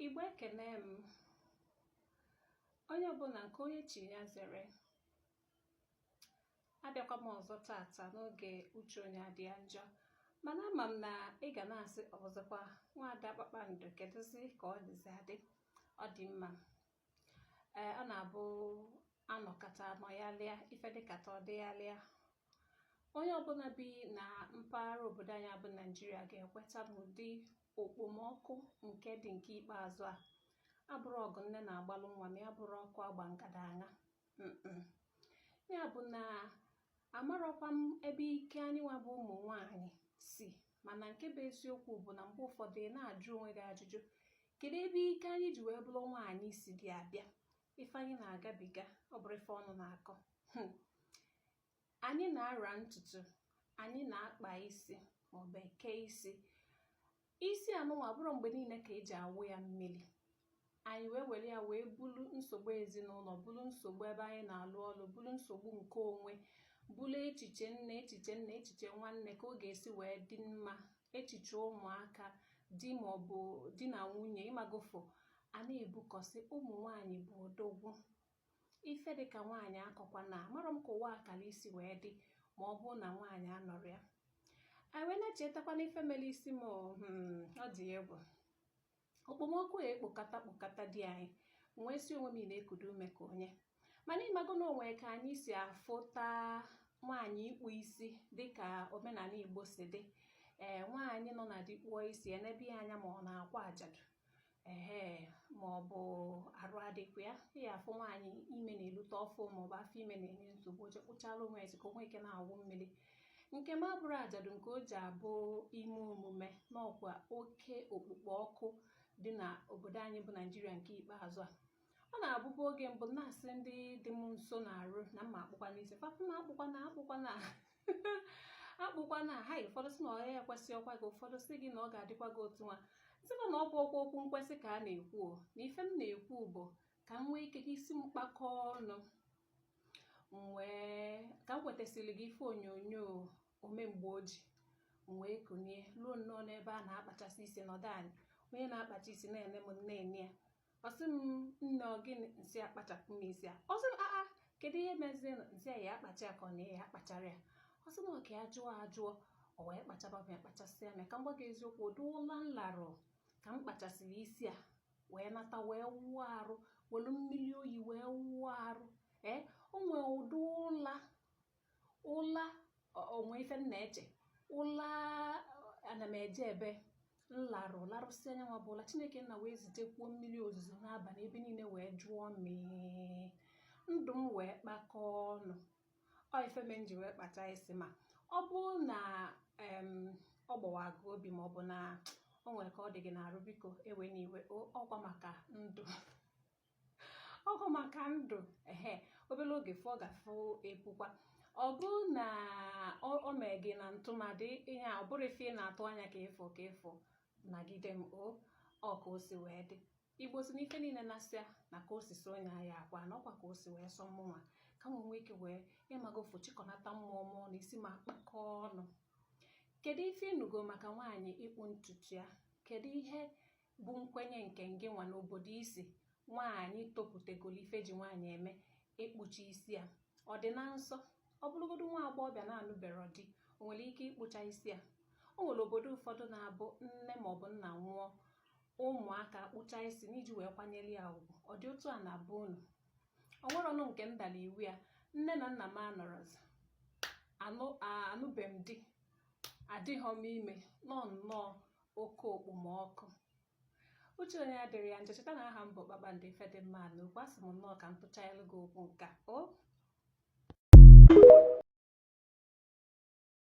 Igbo ekene m onye ọbụla nke onye chi ya zere abịakwa m ọzọ tata n'oge uche onye adị ya njọ mana ama m na ị ga na-asị ọzọkwa nwaada kpakpando kedụzi ka ọ dịzi adị ọ dị mma ee ọ na-abụ anọkata anọghalịa ife dịkata ọ dịghalịa onye ọbụla bi na mpaghara obodo anyị bụ naijiria ga-ekweta na ụdị okpomọkụ nke dị nke ikpeazụ a abụrọ ọgụ nne na-agbalụ nwa ma ya bụrụ ọkụ agba ngada aṅa ya bụ na amarọkwa m ebe ike anyị nwa bụ ụmụ nwanyị si mana nke bụ eziokwu bụ na mgbe ụfọdụ ị na-ajụ onwe gị ajụjụ kedu ebe ike anyị ji wee bụrụ nwaanyị si dị abịa ife anyị na-agabiga ọ bụrọ ife ọnụ na-akọ hmm. Anyị na-ara ntutu, anyị na-akpa isi maọbụ eke isi. Isi anụnwa abụrọ mgbe niile ka eji awụ ya mmiri. Anyị wee were ya wee bulu nsogbu ezinụlọ, bulu nsogbu ebe anyị na-alụ ọlụ, bulu nsogbu nke onwe, bulu echiche nne, echiche nna, echiche nwanne ka ọ ga-esi wee dị mma, echiche ụmụaka, di maọbụ di na nwunye ịmagofo a na-ebukọsị ụmụ nwaanyị bụ odogwu ife dị ka nwaanyị akọkwana amarọ m ka ụwa akara isi wee dị ma ọ bụrụ na nwaanyị anọrọ ya anyị wee na-echetakwa na ife mere isi m hmm, ọ dị egwu okpomọkụ a ekpokata kpokata di anyị wee si onwe m na-ekudo ume ka onye mana ịmago na o nwee ka anyị si afụta nwaanyị ịkpụ isi dịka omenala igbo si dị ee nwaanyị nọ na di kpụọ isi enebe ya anya ma ọ na-akwa ajadu ehe ma ọ bụ arụ adịkwa ya ị ya afụ nwaanyị ime na-elute ọfụ ma ọ bụ afọ ime na-enye nsogbu o jee kpụchara onwe ya isi ka o nwee ike na-awụ mmiri nke m abụrọ ajadu nke o ji abụ ime omume n'ọkwa oke okpukpo ọkụ dị na obodo anyị bụ naijiria nke ikpeazụ a ọ na-abụbu oge m bu na-asị ndị dị m nso n'arụ na m ya-akpụkwanụ isi fa sị m akpụkwana akpụkwana akpụkwana ha ụfọdụ sị na ọ ya ekwesịrọkwa gị ụfọdụ sị gị na ọ ga-adịkwa gị otu nwa sịkwa na ọ bụrọkwa okwu nkwesị ka a na-ekwu na ife m na-ekwu bụ ka m nwee ike ka isi m kpakọọ ọnụ wee ka m wetasịrị gị ife onyonyo omemgbe oji wee kunie ruo nnọọ n'ebe a na-akpachasị isi nọdụ anị onye na-akpacha isi na-ene m anya ọ sị m nne ọ gịnị m sị ya kpachapụ m isi a ọ sị m aa kedu ihe meziri m sị ya kpacha ya ka ọ na ya akpachara ya ọ sị m ọ ka ya jụọ ajụ o o wee kpachaba m ya kpachasịa m ya ka m gwa gị eziokwu ụdị ụla m larụ ka m kpachasịrị isi a wee nata wee wụọ arụ welu mmiri oyi wee wụọ arụ ee o nwee ụdị ụla ụla o nwe ife m na-eche ụla ana m eje ebe m larụ larụsịa nya nwa bụ ụla chineke nna wee zitekwuo mmiri ozuzo n'abalị ebe niile wee jụọ mee ndụ m wee kpakọọ ọnụ ọ ife m ji wee kpacha isi ma ọ bụrụ na ọ gbawa gị obi ma ọ bụ na o nwere ka ọ dị gị n'arụ biko ewena iwe ọkwa maka ndụ ọ bụ maka ndụ ehe obere oge fọ gafụ epukwa ọ bụrụ na o mee gị na ntụmadị ihe a ọ bụrọ ife ị na-atụ anya ka ị fụ ka ị fụ nagide m o ọ ka o si wee dị igbo sị na ife niile na-asịa na ka o si sọ onye ahịa akwa na ọkwa ka o si wee sọ mụnwa ka m nwee ike wee ịmago ofu chịkọnata mmụọ mmụọ na isi m akpakọọ ọnụ kedu ife ị nụgo maka nwaanyị ịkpụ ntutu ya kedu ihe bụ nkwenye nke ngị nwa n'obodo i si nwaanyị toputegoro ife e ji nwaanyị eme ịkpụcha isi a ọ dị na nsọ ọ bụrụgodu nwa agbọghọbịa na-anụberọ di o nwere ike ịkpụcha isi a o nwere obodo ụfọdụ na-abụ nne maọbụ nna nwụọ ụmụaka kpụcha isi n'iji wee kwanyere ya ugwu ọ dị otu a na be unu o nwerọnụ nke m dalụ iwu ya nne na nna m anọrọzi anụbe m di adịghọ m ime na ọ nnọọ oke okpomọkụ uche onye adịrị ya njọ cheta na aha m bụ kpakpando ife dị mma na okwu asị m nnọọ ka m tụchaalụ gị okwu nka o